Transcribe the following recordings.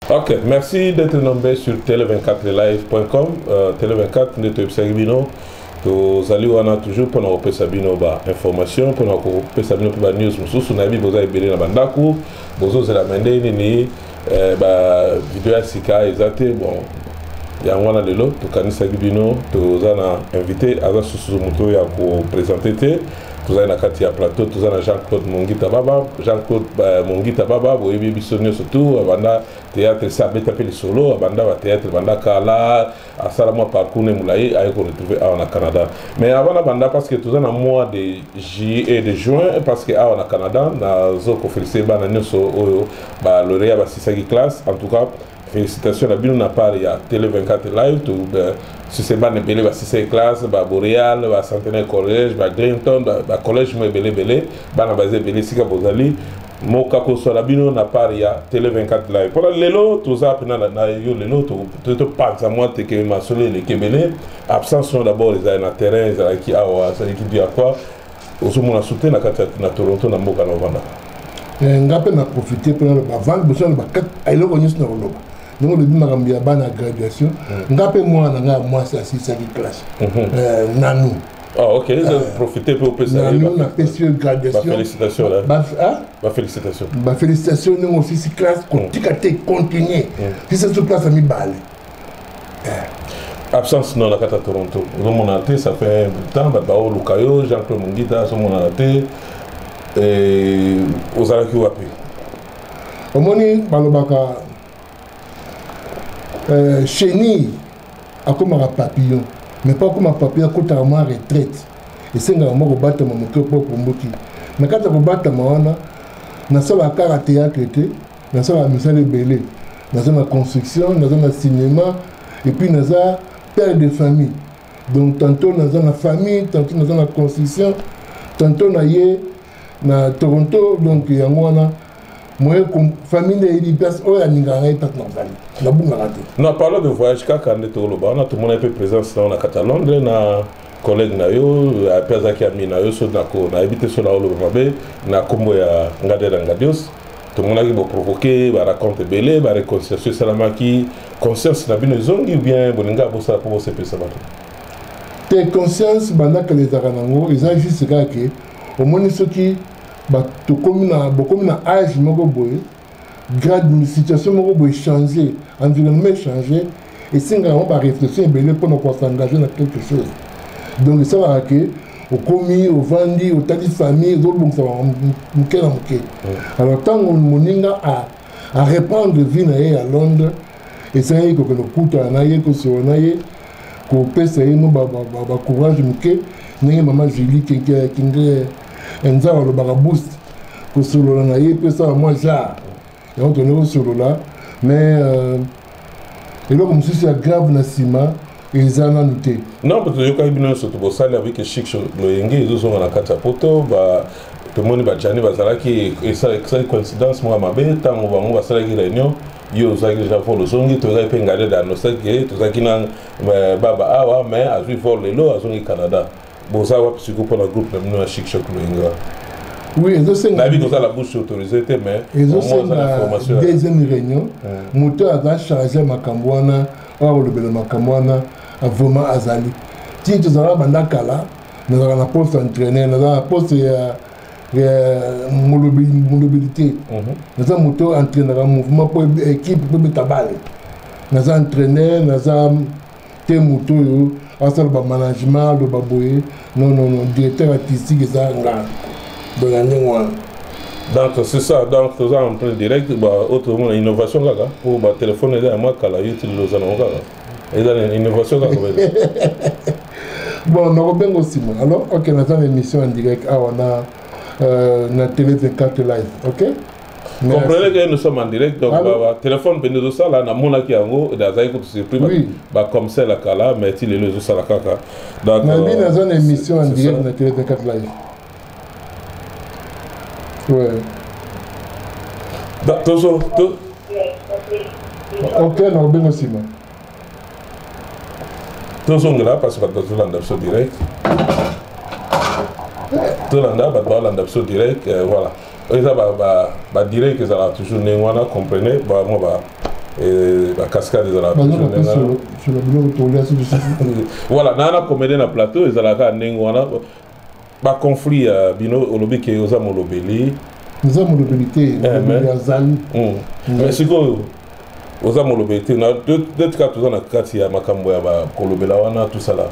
Ok, merci d'être nommé sur tele24live.com. Euh, tele24, nous sommes tozali wana toujours mpona kopesa bino bainformation mpona kopesa bino mpe banews mosusu nayebi boza ebele na bandako bozozela mende nini eh, bavideo ya sika eza te bon yango wana lelo tokanisaki bino toza na invité aza susu moto oyo ya kopresente te tozali na kati ya plateau toza na jean claude mongita baba jean claude eh, mongita baba boyebi biso nyonso tu abanda théâtre se abeta mpe lisolo abanda bathéâtre banda kala asala mwa parcours ne molai aye ko retrouver awa na canada mais avant nabanda parce que toza na mois de juillet de juin parce que awa na canada nazo kofélicite bana nyonso oyo balorea basisaki classe en tout cas félicitation na bino na part ya télé 24 live to euh, sise bana ebele basisaki classe baboreal bacentenaire collège baglinton bacollège mo ebele ebele bana baza ebele esika bozali moka koswala bino na part ya tele 24 live mpona lelo toza mpena na yo lelo topanza mwa teke masolo eleki ebele absence no d'abord ezali na terrain ezalaki awa azalaki du akwa ozomona soute na kati na toronto na mboka na ovandaka eh, nga mpe na profite mpe naloba avant liboso naloba eloko nyonso na koloba ndenge olobi makambo ya bana graduation hmm. nga mpe mwana na ngai ya mwasi asilisaki classe hmm. eh, nanu Ah, ok, ils ont profité pour opesa na nous na pesi yo graduation bafélicitation na ba hein? bafélicitation bafélicitation ndenge osisi classe mm. kotika te continuer sisa mm. so place ya mibale eh. absence non na kati ya toronto ozomonana te ça fait temps bato baoluka yo jean claude mongita azomonana te eh, ozalaki wapi omoni balobaka euh, chenille akomaka papillon mais mpo akoma papillon akotaka mwa retraite esengaka mwa kobatama moke mpo okomboki na kati ya kobatama wana nasalaka kaka théâtre te nasalaka misala ebele naza na construction naza na cinéma epuis naza père de famille donc tantôt naza na famille tantôt naza na construction tantôt na ye na toronto donc yango wana moyen famille na yebi place oyo alingaka ngai tata na ozali nabungaka te na parle de voyage kaka nde toloba wana tomonaki mpe présence nao na kati ya londres na collègue na yo mpe azalaki ami na yo so nayebi te so naoloba mabe na nkombo ya ngadela ngadios tomonaki boprovoke baraconte ebele bareconciliation esalamaki conscience na bino ezongi bien bolinga bosala mpo bosepelisa bato te conscience bandakala ezalaka nango eza juste kaka ke omoni soki tokomi na bokomi na age moko boye grade situation moko boye change environnement echange esengaka yango baréflexion ebele mpo na koasengager na quelque chose donc esalaka ke okomi ovandi otali famille ezobongisa moke na moke alors ntango moninga areprendre vie na ye ya londres esengaki kokende kokutana na ye kosola na ye kopesa ye no bacourage moke ndenge mama julie kinge nzambe alobaka boost kosolola na ye mpe esala mwa genre yango tone kosolola mais euh, eloko mosusu ya grave na nsima eza nanu te non bato toyokaki bino nyonso tobosali avec chic loyenge ezozonga na kati ya poto ba tomoni bajani bazalaki esalaki coïncidence moko ya mabe ntango bango basalaki réunion yo ozalaki deja vol ozongi tozalaki mpe ngaleda anosaki tozalaki na euh, baba awa mais azwi vol lelo azongi canada boza wapi siko mpo na groupe na bino ya chic choc loinga oui ezosenga nayebi koza la bouche autorisée te mais ezosenga deuxième réunion moto aza charge ya makambo wana oyo akolobela makambo wana vraiment azali ti tozalaka banda kala nazalaka na poste entraîneur nazalaka na poste ya molobeli te mhm. naza moto oyo entraînaka mouvement mpo équipe mpo ebeta bale naza entraîneur naza te moto oyo asala bamanagement aloba boye nonono directeur artistique eza nga donc ya ndenge wana donc c'est ça donc toza en train direct oyo tozomona innovation kaka mpo batelefone eza ya mwa kala yo ti lelo oza nango kaka eza na innovation kaka bon nakobenga osima alors ok naza na émission en direct awa na euh, na télé 24 live ok comprenez que nous sommes en direct donc batelefone mpe nde ezosala namonaki yango azalaki kutu surpris bacom sel akala mais ti lelo ezosala kaka nabi naza na émission en direct na tele 24 live tozo ok na kobenga nsima tozongela parce bato bazolanda biso direct tolanda bato balanda biso direct euh, voilà eza badirect ba, ba ezalaka toujours ndenge wana comprenez bango ba euh, bacascade ezalaka voilà naa na comédie na plateau ezalaka ndenge wana ba conflit ya euh, bino olobi ke oza molobeli oza molobeli te eh, molobeli azali hmm. hmm. mais sikoyo oza molobeli te totika toza na kati ya makambo ya kolobela wana tosala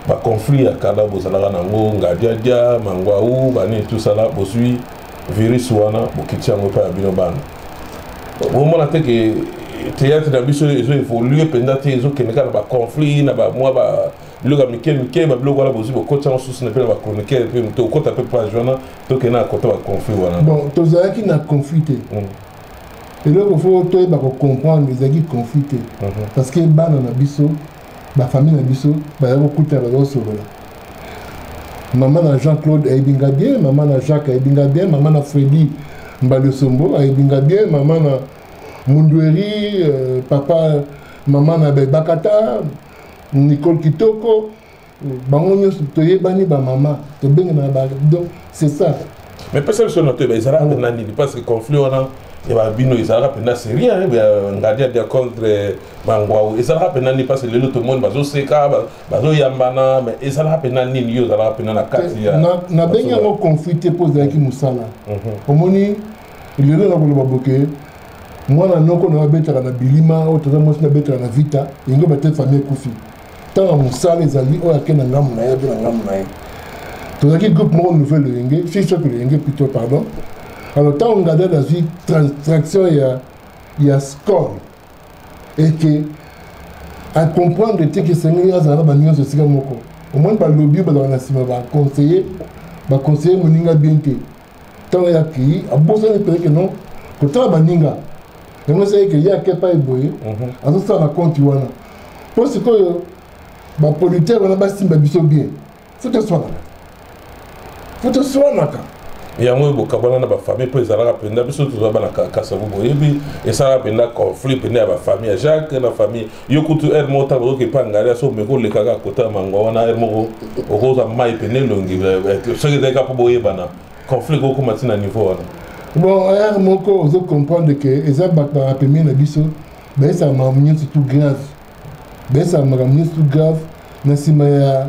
baconflit ya kala bozalaka na yango ngadiadia mangwau banini tosala bozwi virus wana bokiti yango epai ya bino bana bomona te ke théâtre na biso ezo évolue mpenza te ezokende kaka na baconflit na bamwa biloko ya mike mike babiloko wana bozwi bokoti yango susu na mpe na bachroniqueur mpe moto okota mpe page wana tokende na kota baconflit wana bon tozalaki na conflit te mm. eloko fo toyeba kocomprendre ezalaki conflit te mhm. parce que bana na biso bafamille na biso baza kokuta baza kosolola mama na jean claude ayebi nga bien mama na jacques ayebi nga bien mama na fredi mbalosombo ayebi nga bien mama na mundueri euh, papa mama na bebakata nicole kitoko bango nyonso toyebani bamama tobengemaka ba donc c'est ça mais pesa biso na toyeba ezalaka mpena nini parce que conflit wana ya bino ezalaka mpena serie ngadia dia contre bangwau ezalaka mpena nini parce que lelo tomoni bazoseka bazoyambana mais ezalaka mpena nini yo ozalaka mpena na kati ya nabengi yango conflit te mpo ezalaki mosala mhm. omoni lelo na koloba boke mwana noko na abetaka na bilima oyo toza mwasi nabetaka na vita ingo bate famille ekufi ntango mosala ezali oyo ake na ngambo na ye abe na ngambo na ye tozalaki groupe moko nouvelle loyenge si soki loyenge plutôt pardon alors ntango ngada nazwi traction ya ya score eke acomprendre te ke esengeli azalaka banyonso esika moko omoni balobi bazalaka na nsima baconseiller baconseiller moninga bien te ntango ye akei abosani mpenza ke non kotala baninga yango esali ke ye ake epai boye mhm. azosala na konti wana mpo sikoyo bapolitere wana basimba biso bien fo toswanaka fo toswanaka yango oyo bokabwana na bafamille mpo ezalaka mpenza biso tozwa bana kasavubu oyebi esalaka mpenza conflit mpenza ya bafamille ya jacques na famille yo kutu heure moko ntango oyoki epai ngai so omeki oleka kaka kota ya mangwa wana heure moko okozwa mai pene elongi eh, eh, soki ezali kaka mpo boyebana conflit kokoma ntina niveau wana bon heure moko ozo comprendre ke eza bato bapemie na biso bayesaka makambo nyonso tout grave bayesaka makambo nyonso tout grave na nsima ya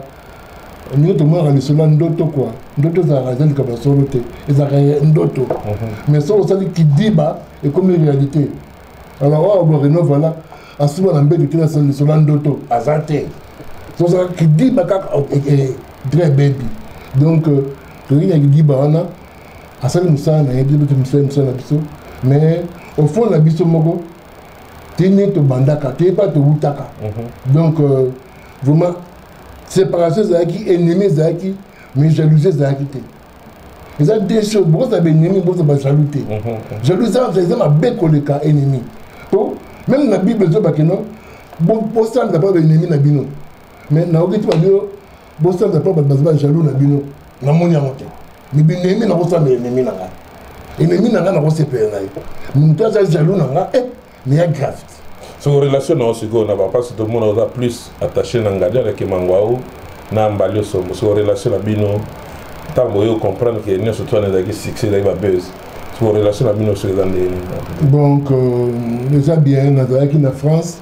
ndenge tomonaka lisolo ya ndoto kua ndoto ezalaka eza likambo ya solo te ezalaka ndoto mhm. mais soki osali kidiba ekomi réalité alors oyo oh, boreno voilà asuba na mbeto te nasala lisolo ya ndoto aza te tozala kidiba kaka dre bebi donc euh, toyei na kidiba wana asali mosala na ye biso mpe tomisali mosala na biso mais au fond na biso moko te nde tobandaka te mpa towutaka mhm. donc euh, vraiment séparation ezalaki ennemi ezalaki mais jalousie ezalaki te eza deux choses bokozala baennemi boza bajaloux te jaloux eza mabe koleka ennemi po meme na bible ezobake no bosanza mpo baennemi na bino mais nayoki ti babino bosanza mpo bato baza bajaloux na bino namoni yango te mi binemi nakosanza ennemi na ngai ennemi na ngai nakosepela na ye moto aza jaloux na ngai eh, mais ya gravité soko relation na yo sikoyo na bapasi tomona oza plus attaché na ngadi alaki mangwau na mbali osombo soko relation na bino ntango oyo comprendre ke nyonso twana ezalaki succès ezalaki babuse soko relation na bino soki eza ndenge nini donc euh, eza bien nazalaki na france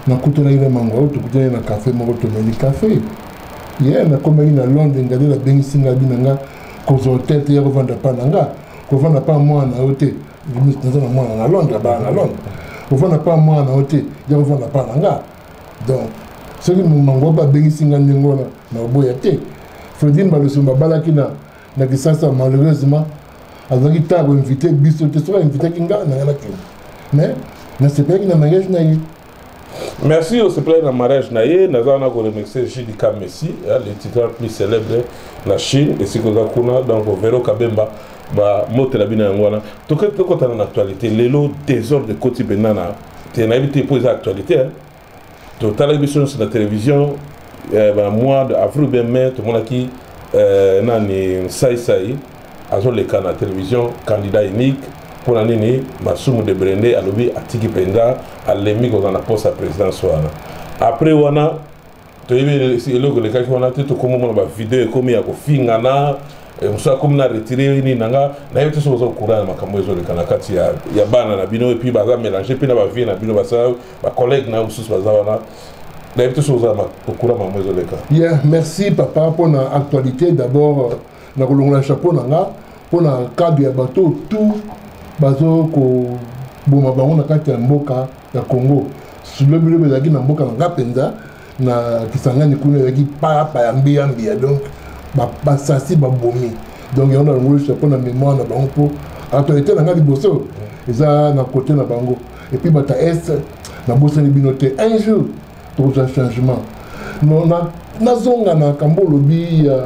nakutanaki na mangwau tokutanaki na café moko tomeli café ye yeah, nakomaki na londres ngadi nabengisi ngadi na nga kozwa hotel te ya kovanda mpa na nga kovanda mpa mwana na yo te Ministre, naza na mwana na Londres, abala na Londres. Ovanda pa mwana na yo te, ya ovanda pa na nga. Donc, soki mango babengisi nga ndenge wana na oboya te. Fredine Baloso babalaki na na Kisasa malheureusement azalaki ntango invité biso te soki ainvitaki nga na nga nakende mais nasepelaki na mariage na ye merci osepelaki na mariage na ye naza wana koremercie jdk messi le titan plus célèbre na chine esika oza kuna donc vero kabemba bamotela bino yango wana tokotana na actualité lelo désordre ekoti mpenza na te nayebi te mpo eza actualité totalaki biso nyonso na télévision eh, mois de avril bien mai tomonaki eh, nani saisai azoleka na television candidat unique mpo na nini masumu de brende alobi atiki mpenza alembi kozala na poste ya présidence wana après wana toyebi eloko elekaki wana te tokomi omona bavideo ekomi ya kofingana eh, mosusu akomi na retire nini na nga nayebi te soki oza koura na makambo ezoleka na kati ya, ya bana na bino epuis baza mélange mpe na bavie na bino basala bacollègue na yo mosusu baza wana nayebi te soki oza koura makambo ezoleka yeah merci papa mpo na actualité d'abord na kolongola chapeau na nga mpo na kado ya bato tout bazo koboma bango na kati ya mboka ya congo lobilobi ezalaki na mboka na nga mpenza na kisangani kuna ezalaki payapa ya mbiyambiya donc basasi babomi donc yango nalongoli chapeau na mémoire na bango mpo autorité na nga liboso eza na kote na bango epuis bata est nabosani bino te un jour tokozwa changement non na nazonga na kambo olobi ya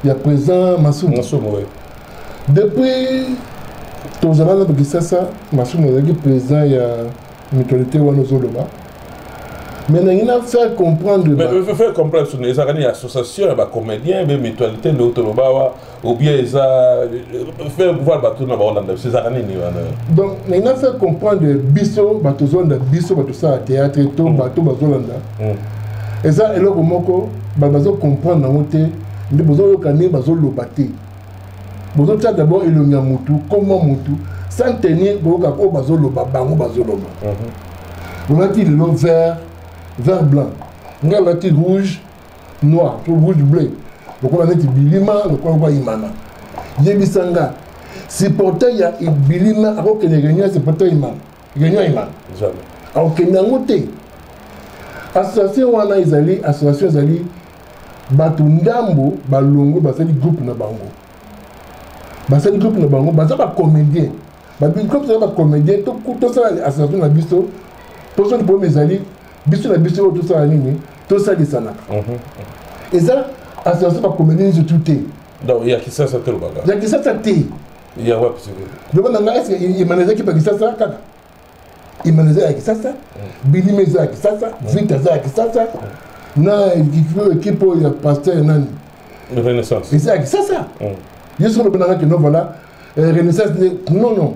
ya président masumu masumu oui. depuis tozala na kisasa masumu azalaki président ya mutualité wana ozoloba mais nalingi na faire comprendre faire comprendre soni ezalaka nini association ya bacomédien be mutualité nde otoloba awa ou bien eza faire pouvoir bato na baolanda biso ezalaka nini wana donc nalingi na faire comprendre biso bato ozolanda biso bato osala théâtre to mm. bato bazolanda mm. eza eloko moko bato bazo comprendre yango te nde bozoyoka ndenge bazoloba te bozotya d'abord elongi ya motu koma motu sans tenir boyoka oyo bazoloba bango bazoloba mhm. olati lelo vert vert blanc ngai alati rouge noir to rouge bleu lokola neti bilima lokola lokola imana yebisa nga supporter ya bilima akokende réunion ya supporter ya imana réunion ya imana akokende yango te association wana ezali association ezali bato ndambo balongwe basali groupe na bango basali groupe na bango baza bacomédien babiloko tozala bacomédien tosala association na biso poso lipomi ezali biso na biso oyo tosala nini tosalisanaka mhm, mhm. eza association bacomédien nyonso tu te ya kisasa te lobaka ya kisasa te ya wapi yoko na ngai eske emanezaki pa kisasa kaka imana eza ya kisasa bilima eza ya kisasa vita eza ya kisasa na ekipe oyo ya paster nani renaissance eza ya kisasa yesu olobi nanga kino vala eh, renaissance non non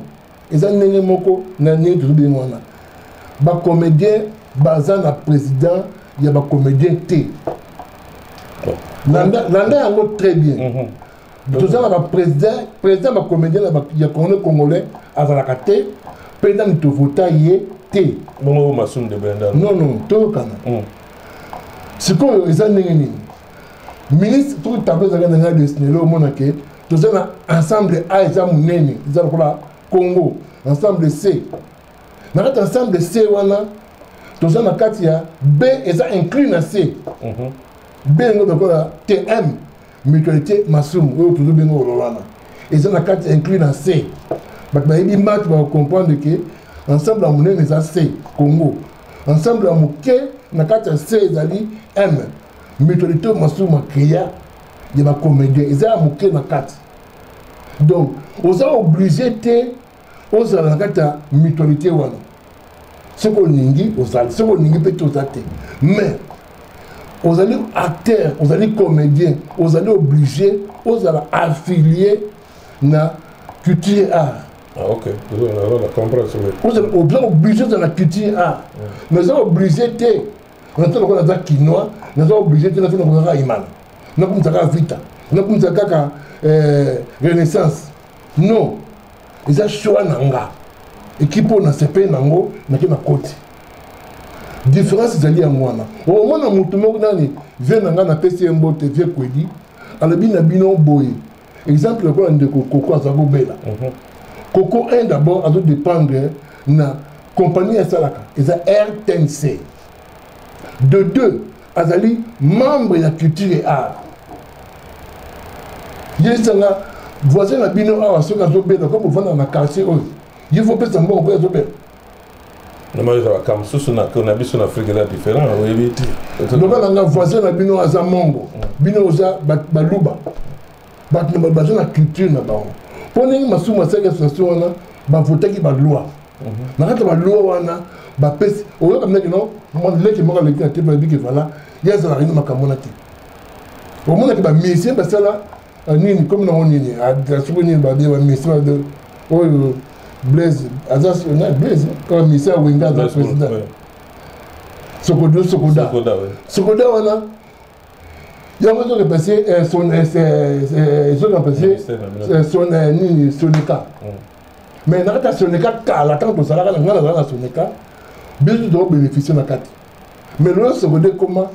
eza ndenge moko na ndenge tozo bino wana bacomédien baza na président ya bacomédien te landa yango très bien mhm. toza na bapresident président bacomédien ya congolais congolais azalaka te président moto vota ye te bongo masum de benda non non toyokana hmm. sikoyo eza ndenge nini ministre to tablo ezalaka na ngai desnelo omona ke toza na ensemble a eza monene eza lokola congo ensemble c na kati ensemble c wana toza na kati ya b eza inclus na c mhm. b yango lokola tm mutualité masumu oyo tozobenga olola wana eza na kati inclus na se bato bayebi mati bakocomprendre ke ensemble ya monene eza se congo ensemble ya moke na kati ya se ezali m mutualité masumu macrea ya bacomédien eza ya moke na kati donc oza oblige te ozala na kati ya mutualité wana soki olingi ozali soki olingi mpe toza te mais ozali acteur ozali comédien ozali obligé ozala affilié na culture art ah, oza obligé ozala na culture art mais oza obligé te naza lokola naza kinois naza obligé te naza nakozaka imana nakumisa kaka vita nakumisa kaka eh, renaissance non eza choix na nga ekipe oyo nasepeli nango nake na koti différence ezali yango wana omona motu moko nani vie na ngai napesi ye mbote vie kwedi alobi na bino boye exemple lokola ndeko koko aza kobela mhm. koko un d'abord azo dépendre na compagnie asalaka eza rtnc de deux azali membre ya culture et art yesanga voisin na bino awa soki azobela comme ovanda na quartier oyo ye fo pesa mbongo mpo azobela namoni eza bakambo mosusu na biso na afrika eza différent oyebi te loba nanga voisin na bino aza mongo mm. bino oza baluba bato na baza na culture na bango mpo ndenge masumu asalaki association wana bavotaki baloi na kati ya baloa wana bapesi oyoka ndenge no leki moko aleki na te mpe abiki vala ye azala rini makambo na te omonaki bamisie basala euh, nini komi nango nini soki nini babie bamisie oyo blaise aza blaise kaka misie awenga aza président sokodo sokoda sokoda wana yango ezo remplace ezo remplace sonika mais na kati ya soneka kala ntango tozalaka na ngai nazalaka na soneka biso tozo bénéficie na kati mais lelo seconde ekoma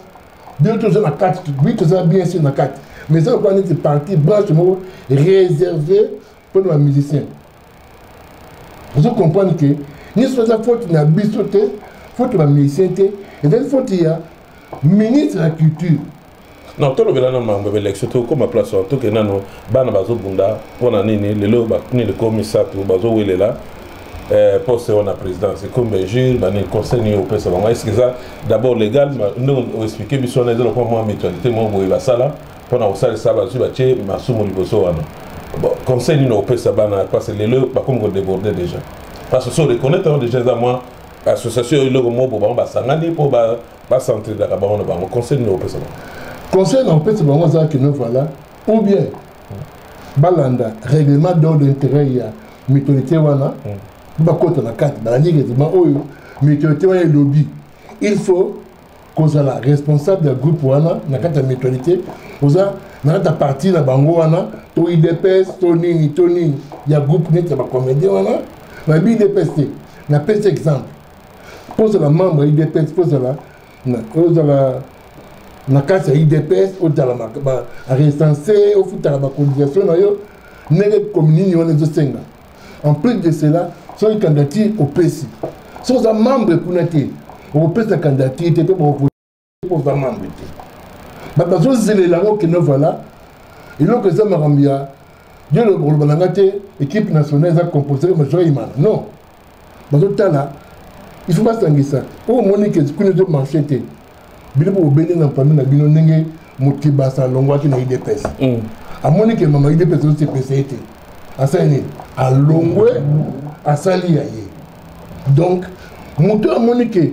biso toza na kati bi toza bien sur na kati mais eza lokola neti parti branche moko réservé mpo na bamusicien ozo comprendre ke nyonso eza faute na biso te faute ya bamusicien te ezali faute ya ministre ya culture non tolobela nano makambo ya baelection tokoma place wana toke nano bana bazobunda mpo na nini lelo bakuni likolo misato bazowelela eh, poste wana présidence ekomi bainjure banini conseil nini opesa bango eske eza d'abord légal ndenge oexplike biso wana eza lokwa mwa mutualité moko boye basala mpo na kosalisa bazwi batye masumu liboso wana conseil nini opesa bana parce que lelo bakomi kodéborde déjà parce que so reconnaître yango déjà eza mwa association eloko moko bango basangani mpo ba centre la bango na bango conseil nini opesa bango conseil na opesa bango za que ne voilà ou bien balanda règlement d'ordre intérêt ya mitorité wana mm. bakota na kati balandi règlement oyo mitorité wana elobi il faut kozala responsable ya groupe wana na kati ya mutualité oza na kati ya parti na bango wana to idps to nini to nini ya groupe neti ya bacomédien wana nayebi idps te napesi exemple mpo ozala membre ya idps mpo ozala ozala na kati ya idps ozala recense ofutaka bacotisation na yo ndenge commune wana ezosenga en plus de cela soki candidature opesi soki oza membre kuna te okopesa candidature te mpe oza mambre te bato bazozelela yango kino vala eloko eza makambo ya yo lokoloba na nga te équipe nationale eza composé comme joyman non bazotala il faut basangisa oyo omoni ke kuna ezomarche te bino bobele na mpami na bino ndenge motibasa alongwaki na idps mm. amoni ke mama idps ezosepesa ye te asali nini alongwe asali ya ye donc moto amoni ke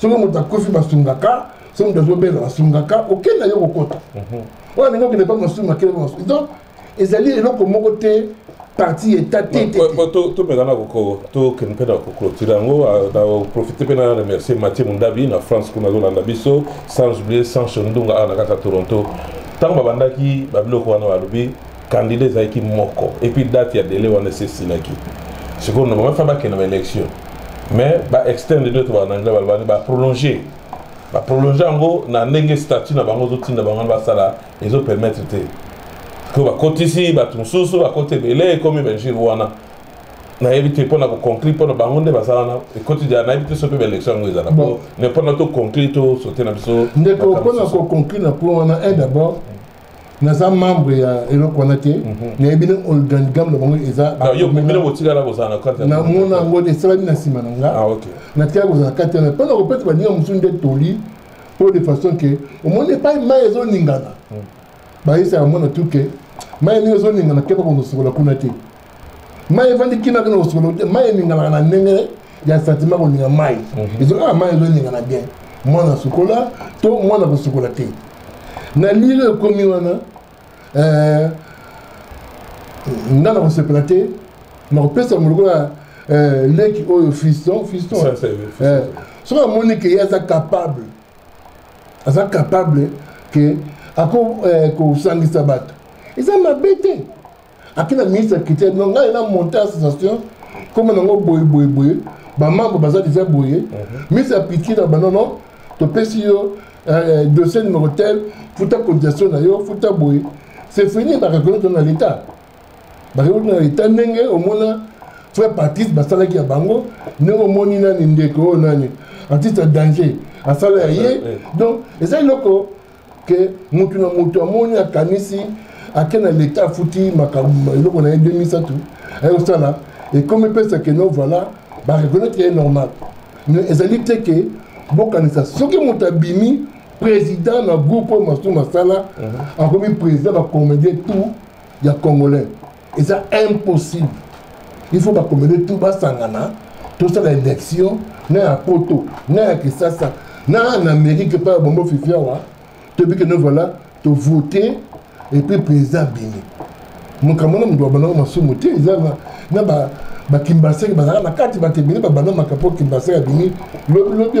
soki moto akufi basungaka soki moto azobela basungaka okenda yo kokota mhm. oyo alingi okende mpa masunga akende masunga donc ezali eloko moko te parti eta te tomekana tokende mpe na koclotire yango naprofite mpe na remercier mathieu mondabi na france kuna azolanda biso sans oublier sancho ndunga awa na kati ya toronto ntango babandaki babiloko wana balobi candidat ezalaki moko epuis date ya dele wana esi esilaki sikoyo normalement fa bakende ba élection mais ba externe nde to bana anglais balobani ba prolonger ba prolonger yango na ndenge statut na bango ezotinda bango basala ezo permettre te sikoyo bakotisi bato mosusu bakoti ebele ekomi bainjure wana nayebi te mpo na koconclure mpo na bango nde baza wana ekoti dia nayebi te so mpe baélection yango ezala po mais mpo na toconclure tosote na biso ndeko mpo na koconclure na point wana un d'abord naza membre ya eloko wana te mhm. nayebi na organigramme na bango ezanamona yango te esalami na nsima na nga ah, natikala kozala kati wana mpo na kopesa baninga mosusu nde toli mpo de façon ke omoni epai mai ezoningana mhm. bayesaka mona tuke mai ndenge ezoningana keba konosokola kuna te mai efandi kima kino kosukolo te mai eninganaka na ndenge ya sentiment kolinga mai mhm. ezo kaka ah, mai ezoningana bien mwana asukola to mwana kosukola te na lilo ekomi wana eh, nga na kosepela te nakopesa molokola eh, leki oyo fiston fiston eh, soki amoni ke ye aza capable aza capable ke ako kosangisa bato eza mabe te ake na ministre ya culture no ngai na monte association koma nango boye boye boye bamambre baza deja boye mhm. ministre ya culture na banono topesi yo euh, dossier numero tel futa cotisation na yo futa boye c'est fini bakakoki tona l'état bakoki tona l'état ndenge omona frère patrice basalaki ya bango ndenge omoni nani ndeko oyo nani artiste ya danger asala ya ye donc eza eloko ke mutu na mutu amoni akanisi ake na leta afuti makambo eloko na ye 2007 aye kosala ekomi pesa ke no voilà bareconnaitre ye normal mais ezali te ke bokanisa soki moto abimi président na groupe oyo masumu asala mhm. akomi président bacomédien tout ya congolais eza impossible il faut bakomede tout basangana tosala élection na ya poto na ya kisasa na na amérique epai ya bombo fifi awa toyebi kende voilà tovote epuis président abimi makambo na moto babandango masumu te eza na bakimbaseke bazalaka na kati bato ebele babanda makambo kimbaseke abimi lobilobi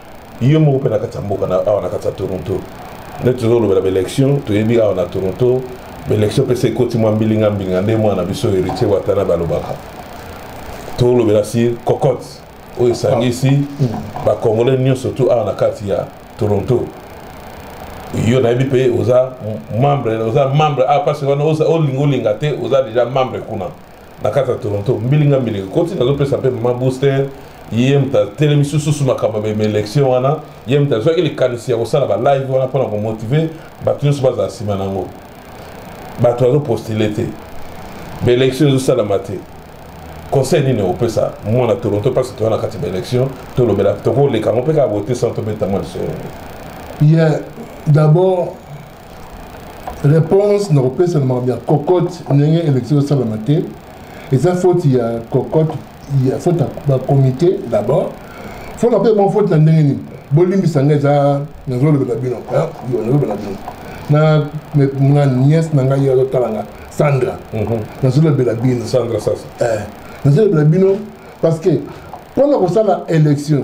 ye moko mpe na kati ya mboka awa na kati ya toronto nde tozolobela baélection toyebi awa na toronto baélection mpe se ekoti mwa mbilinga mbilinga nde mwana biso héritier watana balobaka tolobela si cocotte oyo esangisi bacongolais nyonso tu awa na kati ya toronto yo nayebi mpe oza membre oza membre awa ah, parce wana olinga olinga te oza déjà membre kuna na kati ya toronto mbilinga mbilinga koti nazopesa mpe mama booster ye moto atelemisi lisusu makambo mema élection wana ye moto azwaki likanisi ya kosala balive wana mpona komotive bato nyonso bazala nsima na yango bato bazopostile te baélection ezosalama te conseil nini okopesa mwana toronto mpasi toya na kati baélection tolobela tokoleka yango mpe kaka bote sans tobeta mwa lisolo ye d'abord réponse na kopesa na makambo ya cocotte ndenge élection esalama te eza faute ya cocotte ya faute ya bacomité d'abord fo na mpe mo faute na ndenge nini bolimbisa ngai eza nazolobela bino nazolobela bino na nga nièce na ngai azotala nga sandra mhm. nazolobela bino sandra sasa eh, nazolobela bino parce que mpo na kosala élection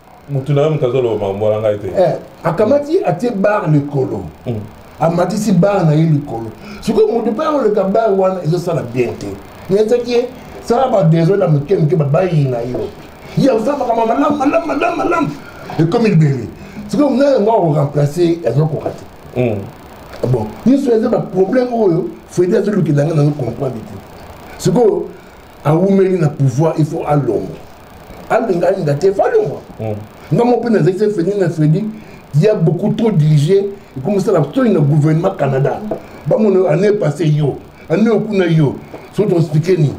mutu na yo moto azoloba makambo wana ngai te eh, akamati atie bar likolo mm. amatisi bar na ye likolo sikoyo moto mpe akoleka bar wana ezosala bien te ezaki ye sala badesole na moke moke babayi na yo ye akosala makambo malamu malamu malamu malamu ekomi libele sikoyo mona yango akoremplace azokoka te mm. bon nyonso eza baproblème oyo fredi azolukela yango nazo comprendre te sikoyo awumeli na pouvoir il faut alongwa alinga alinga te faut alongwa hmm. nga moko mpe nazali se fredi na fredi ya beaucoup trop dirige ekomisala soni na gouvernement canada bamona année passé yo année okuna yo so toexplike nini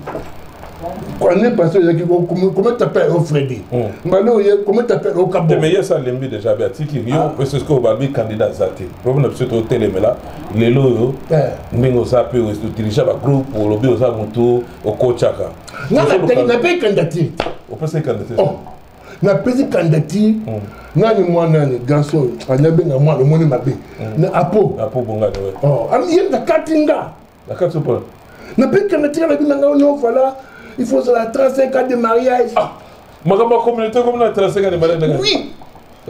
année passée ezalaki comment t'appelle o fredi mbala oye comment t'appelle o kabomeye esa alembi déjà be atiki yo mpe soki obabi candidat aza te problème na biso totelemela lelo oyo eh. ndenge oza mpe otilisa bagroupe olobi oza motu okocaka nape candidature opesa candidature oh. napesi candidature hmm. nani mwanani garçon anabenga mwana omoni mabe hmm. na apo apo bongani oh, ye nakati nga na kati opona na bika na tika na bino ngai no voilà il faut ozala 35 ans de mariage ah, makambo ya communauté komi na 35 ans de mariage ndenge oui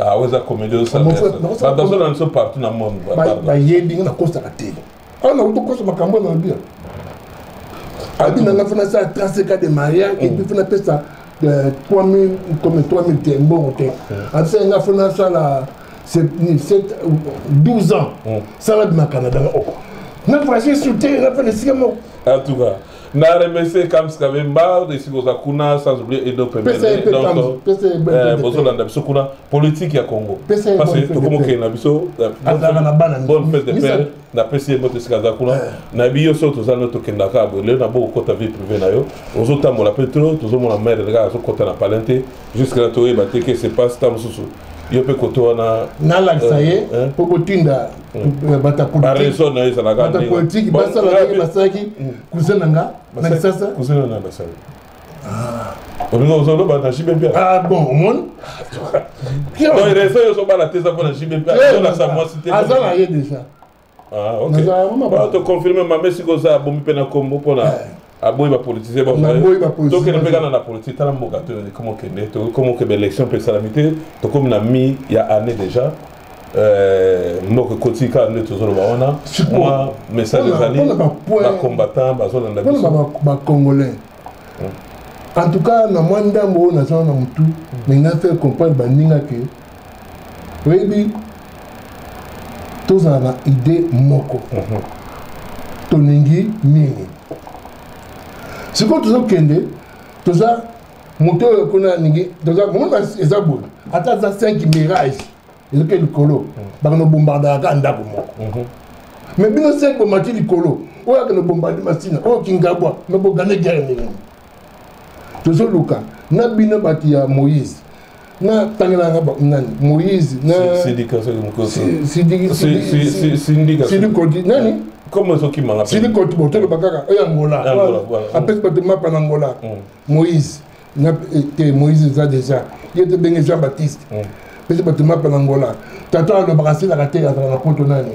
ah oyo eza comédie osabadanso na biso partout na monde bayebi nga nakosaka te awa nakuti okosa makambo na bia abi nanga fana asala 35 ans de mariage epuis fana apesa 3000 comme 3000 te mbongo te asala nga fana asala 12 ans hmm. sala bima canada nga oko na voyage sur te na fana esika moko en tout cas na remercie kams kabemba esika oza kuna sans oublier edo pembeozolanda euh, biso kuna politique ya congo parce que tokomokende na biso euh, bonne fête de père napesi ye mbote esika aza kuna eh. nayebi yo so toza no tokenda kaka boye lelo nabo okota vie privé na yo ozotambola mpe tro tozomona maire kaka azokota na palin te jusque na toyeba te ke se passe ta mosusu yo mpe koto wana nalakisa eh, ye eh. mpo kotinda batapolitike na ye ezalaka basalaki basalaki kuze na nga na lisasa kuze na nga basali ozoloba na jbmp ah bon omoni reso yo ozobala te eza mpo na jbmp azolasa mwasi te aza na ye déjà toconfirme mame siko oza abomi mpe na nkombo mpo na aboyi bapolitisien tokende mpe kana na politike tala mboka tokomokende tokomokende élection mpe esalami te tokomi na mi ya année déjà Euh, mboka ekoti kaka nde tozoloba wana mwa message ezali bacombattant bazolanda biso bacongolais en tout cas na mwa ndambo oyo naza na motu mais nga faire comprendre baninga ke oyebi tozala na idée moko mhm. tolingi nini sikoyo tozokende toza moto oyo kuna alingi tozaomona eza boye ata aza 5 mirage ezoke likolo hmm. bakana obombardaka kaka ndako moko mhm. mais bino 5 bomati likolo oyo akana obombarde masina oyo kingabwa me bogane guerre ndenge tozoluka na bino bato ya moïse na tangelanga nani moïse sidikodi nani comme ezokimanga sidikoti botoloba kaka oyo angola apesi bato mapa na angola mm. moïse na eh, te moïse eza déjà ye te benge jean baptiste mm. pesi bato mapa na ngola tata alobaka asilaka te azala na poto nani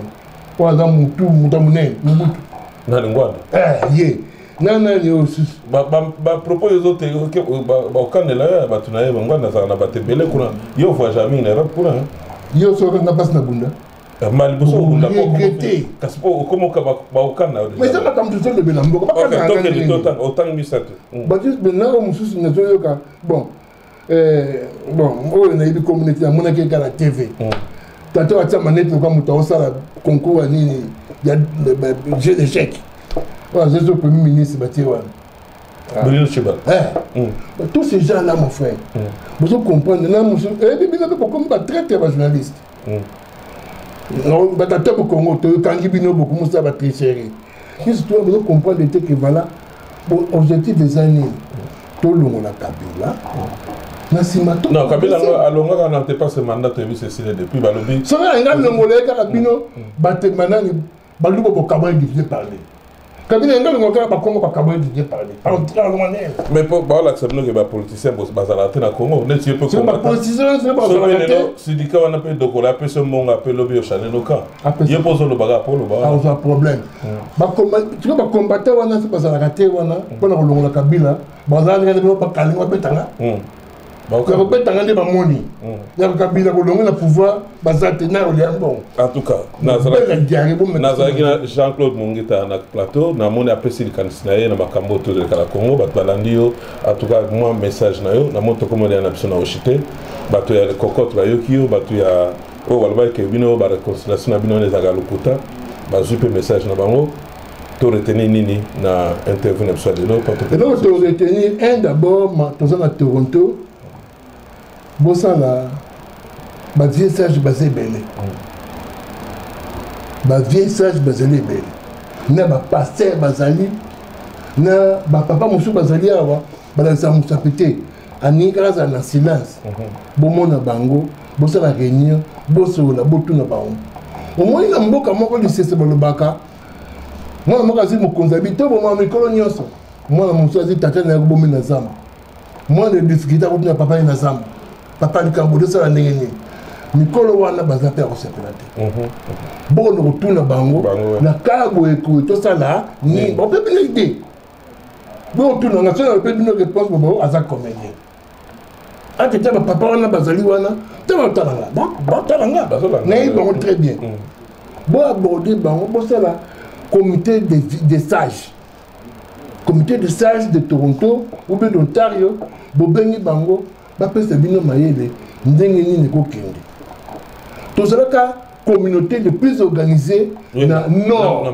oyo aza mutu mutu ya monene mobutu nani ngwanda eh, ye na nani oyo susu bapropos ezo te bakokanela yo ya bato na ye bangwanda azala na bato ebele kuna yo ovua jamais na europe kuna yo soki okanga mpasi na bunda mal liboso obunda regrete kasi mpo okomoka baokana mais eza makambo tozolobela mboka bakanaotanga otanga misato batis benao mosusu nazoyoka bon eh, bon oyo nayebi communauté namonaki eka na tv mm. tata watia manete loka moto aosala concours ya nini ya jeu d'échec oyo azozo premier ministre batie wana ah. Bruno Chiba. Eh. Mm. Tous ces gens-là, mon frère, mm. vous comprenez, là, monsieur, et eh, bien, vous comprenez, traite les journalistes. hmm. batata bokongo tokangi bino bokomusa batricherie biso tuna bozo comprendre te ke vala objectif eza nini tolongola kabila na nsima kabila alongaka na te pase mandat toyebi cecile depuis balobi soki alinga longola ye kaka bino hmm. batemba nani baluba bokabola divine parler kabila yanga lingo kaka bakongo bakabola divine parler en rwandais mais po baolakisa bino ke bapoliticien bazalaka te na congo neti ye pe sindika wana mpe dokola ape so mbongo ape lobi yoshane noka ye mpo ozolobaka apo olobaaoza problème tiko bacombatant wana se bazalaka te wana mpo na kolongola kabila bazalaka ndenge bino bakalingo abetanga ya kobetanga nde bamoni mm. ya kokabila kolongo na pouvoir baza te nayo lya mbongo nazalaki na jean claude mongeta na plateau namoni apesi likanisi na ye na makambo oyo tozoleka na congo bato balandi yo atuka mwa message na yo namoni tokomolia na biso na oshi te bato ya cocote bayoki yo bato ya oyo balobaki ke bino bareconciliation na bino wana ezalaka lokuta bazwi mpe message na bango to retenir nini na interview na biso ya lelo eloko to retenir un d'abord toza na toronto bosala ba vieux sage baza ebele ba vieux sage bazali ebele na ba pasteur bazali na ba papa mosusu bazali awa balakisa mosapi te alingi kaka azala na silence mhm. bomona bango bosala réunion bosolola botuna bango omoni na mboka moko lisese balobaka mwana moko azwi mokonzi abi to bomaka mikolo nyonso mwana mosusu azwi tata na ye kobomi na zamba mwana ya difikilte akotuna papa ye na zamba papa likambo tosala ndenge nini mikolo wana baza mpe ya kosepela te mhm. bokono kotuna bango na kala boye tosala nini mhm. bapepele idee botuna nga sona mpe bino réponse bobo aza comédien ate ta bapapa wana bazali wana ta batala nga batala nga nayebi bango très bien mm. bo aborde bango bosala comité des sages comité de sage de toronto obe d'ontario bobengi bango bapesa bino mayele ndenge nini ekokende tozalaka communauté le plus organisé na nord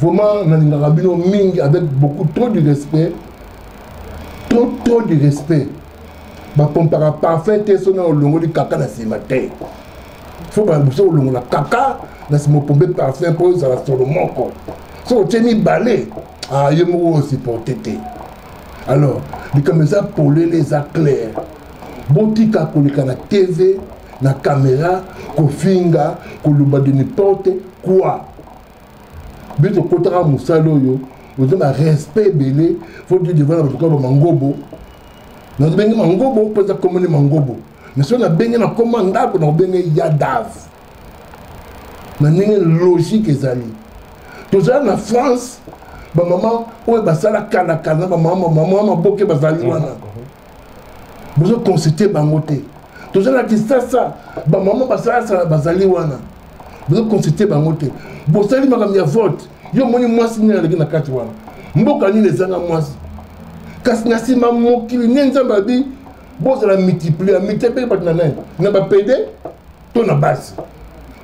Vraiment, nalingaka bino mingi avec beaucoup trop du respect. Trop trop du respect. bapompaka parfum te soki na olongoli kaka na nsima te fo babuso olongola kaka na nsima opombe parfum mpo ozala solo moko soki otie mibale ah, yo moko osupporte te alors likambo eza polele eza claire botika koleka na tv na kamera kofinga koloba de n'importe quoi bino tokotaka mosala oyo oza na respect ebele fo de devant na bato kaka bamangobo nazobenge mangobo mpo eza komone mangobo mais soki nabenge nakoma ndako nakobenge yadav na ndenge logique ezali tozala na france bamama oyo basala kalakala na bamama maboke bazali wana mm -hmm. bozo consulter bango te toza na kisasa bamama basalasala bazali wana bozo consulter bango te bosali makambo ya vote yo omoni mwasi nini aleki na kati wana mboka nini ezanga mwasi kasi na nsima mokili nde nzambe abi bozala multiplier multiplier bato na nani na bapede to na basi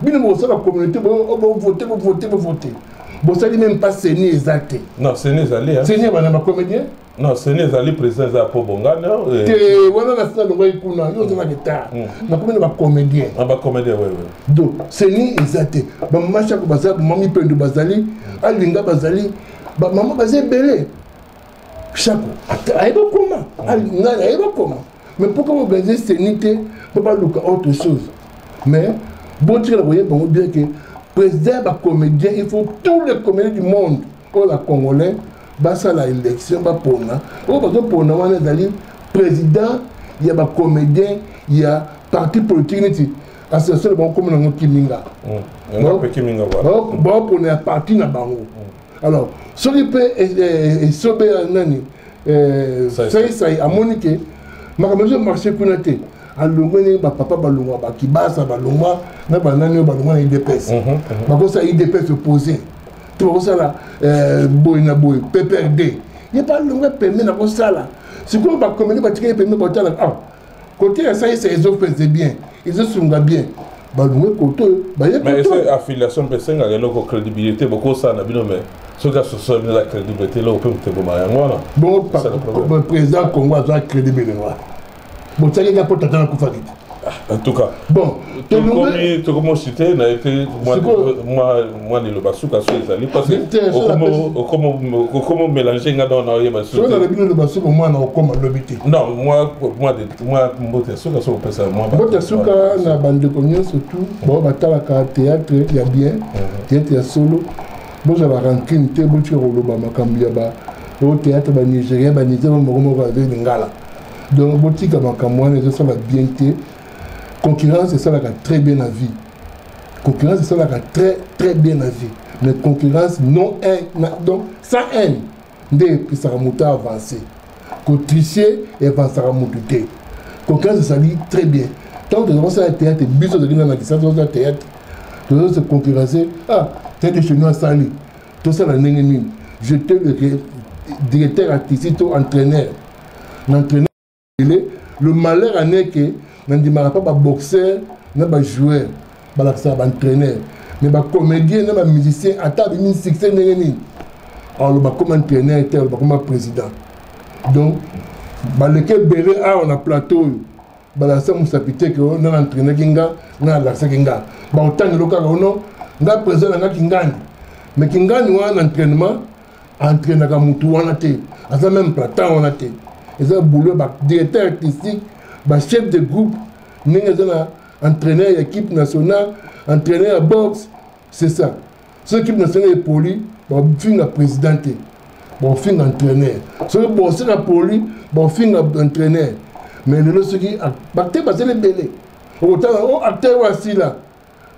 bino bosala communauté bovote bovote bovote bosali meme pas seni eza te non seni ezali seni ya bana bacomédien non seni ezali président eza po bongana euh, te wana na sina longaki kuna yo oza na retard mm. nakomi na bacomédien na ah, bacomédien oui oui donc seni eza te bamashako baza bamami pendo bazali alinga bazali bamama baza ebele shako ayebi okoma mm. ngai ayebi okoma mais mpo kaka organise seni te mpo baluka autre chose mais botikala koyeba yango bien ke président ya bacomédien il faut tous les comédien du monde mpo na congolais basala élection bapona oyo bazopona wana ezali président ya bacomédien ya parti politique neti association na bango komi nango kiminga baopona ya parti na bango mm. alors soki mpe eh, eh, esobe ya nani eh, saisai amoni ke makambo ezo marché kuna te alongwe ndenge bapapa balongwa bakibasa balongwa na banani oyo balongwa na idps mhm, mhm. bakosa idps opposé tokosala eh, boye na boye pprd ye mpe alonga pembe na kosala sikoyo bakomeli batikeli pembe botala ah kote ya saisa ezopese bien ezosunga bien balungue koto baye koto affiliation mpe esengaka eloko crédibilité bokosala na bino mais soki asosoli eza crédible te eloko mpe moteboma yango wana bon président congo aza crédible wana botiaki nga mpo tata nakufaki te en tout cas bon tokomi osite na ye te mwa liloba suka so ezali parce okomi omélange nga donc na oyeba soki nalobi liloba suka mwana okoma lobi te non mwa mbote ya suka soki opesa mbote ya suka na bandeko nyonso tout bao batalaka théâtre ya bien mhm. théâtre ya solo bozwa barancune te botika koloba makambo ya ba o théâtre banigérien banigérien moko moko aza lingala donc botika makambo wana ezosala bien te concurrence esalaka très bien na vie concurrence esalaka très très bien na vie mais concurrence non haine donc sans haine nde epesaka moto avance kotriche evansaka moto te concurrence ezali très bien ntango tozali kosala théâtre biso tozali na na lisasi tozosala théâtre tozose concurrence ah théâtre chez nous asali tosala ndenge nini je te directeur artistique to entraîneur na entraîneur le malheur en est que nandimaka mpa baboxeur na bajoueur balakisaka baentraîneur mais bacomédien na bamusicien ata abimi succès ndenge nini aloba koma entraîneur te aloba koma président donc baleki ebele awa na plateau oyo balakisa mosapi te ke oh, nga na entrainaki nga nga nalakisaki nga baotangelo kaka ono oh, nga president na nga kingani mais kingani wana na entrainement entrainaka motu wana te aza meme platan wana te eza boulot ba directeur artistique ba chef de groupe ndenge eza na entraîneur ya équipe nationale entraîneur ya boxe c'est ça soki ekipe nationale epoli bafinga président te bakofinga entraîneur soki bose na poli bakofinga entraîneur mais lelo soki bacteur bazali ebele okotanga o oh, acteur oyo asila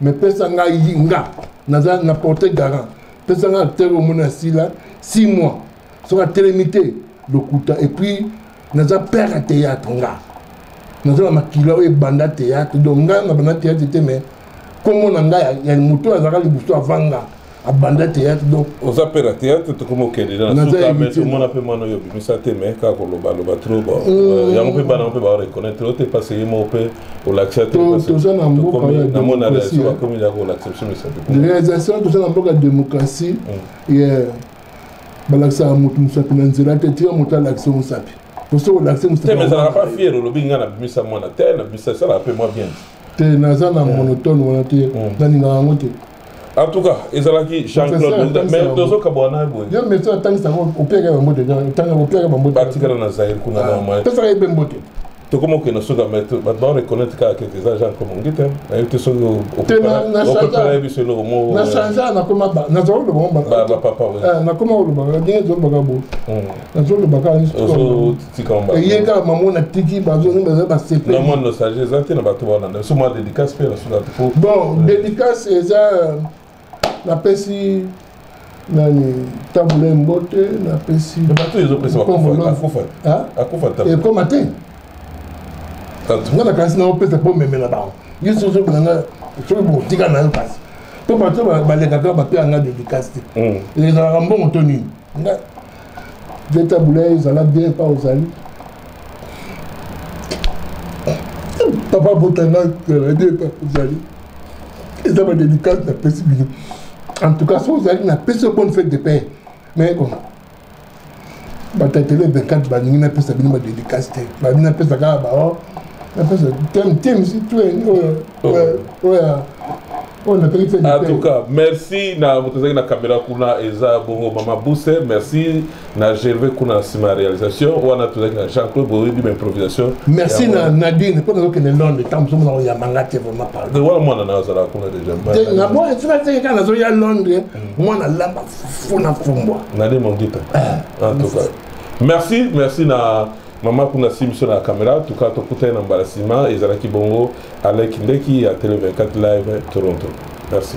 mais pesa ngai nga naza na porte garant pesa ngai acteur oyo omoni asila 6 mois soki atelemi te lokuta epuis naza père ya théâtre nga naza na makila oyo ebanda théâtre donc ngai nabanda théâtre te mais nkombo na ngai ya moto oyo azalaka liboso avanga abanda théâtre donc oza mpe na théâtre tokoma okende nasukaomona mpe mwana oyo obimisa te me kaka kolobaloba trop mm. euh, yango mpe bana mpe bareconnaitre oyo te mpasi ye moko mpe olakisa tenamonaa bakomi ya kolakisa biso misato réalisation toza na mboka démocratie mm. balakisaka motu mosapi na nzela te tika moto alakisa mosapi poso olakisi mosapiezalaka pa fier olobi ngai nabimisa mwana te nabimisa esalaka mpe mwa bien te naza na monotone wana te mm. nalingaka yango te en tout cas ezalaki jean-claude mais tozokabwa na ye boye yo mesi atangisa yango opiaka bambote otangisa opiaka bambote batikala na zaire kuna na mwa pesaka ye mpe mbote tokoma okende suka me bato bao reconnaitre kaka keke eza genre comme ongite nayebi te soki okopela biso eloko moko na change nakoma naza olobapapa nakoma olobaka ndenge ezolobaka bo nazolobaka eye kaka mamo na tiki bazoni baza basepelmwa nostalgie eza te na bato baolanda biso mwa dédicace mpe na suka bon dédicace eza napesi nani tabula embote napesi ekoma te nga nakanisi na opesa mpo omemela bango ye soki ozobela nga soki botika na yo kasi mpo bato balekaka bapea nga dedikasi te hmm. ezalaka mbongo to nini Veta Boulaye ezala bien pa ozali papa botanga ezala bien pa ozali eza badédicace napesi bino en tout cas so ozali napesi bonne fête de paix mais bon batatele 24 balingi napesa bino badédicace te balingi napesa kaka bao napesa temisi tuen oyo oyo en tout cas merci na moto ezalaki na caméra kuna eza bongo mama buse merci na gervais kuna na nsima ya réalisation wana tozalaki na jean claude boyebi ma improvisation merci na nadine mpo nazokende londre ntango zomona oyamanga te vraiment pardon wana mwana na azalaka kuna déjà na bo etina teke kaka nazoya londre mm. mwana lamba fufu na fumbwa nadine mongita eh. en tout cas merci merci na mama kuna si biso na caméra tuka tokutani na mbala nsima ezalaki bongo Alain Kindeki ya Tele 24 Live Toronto. Merci.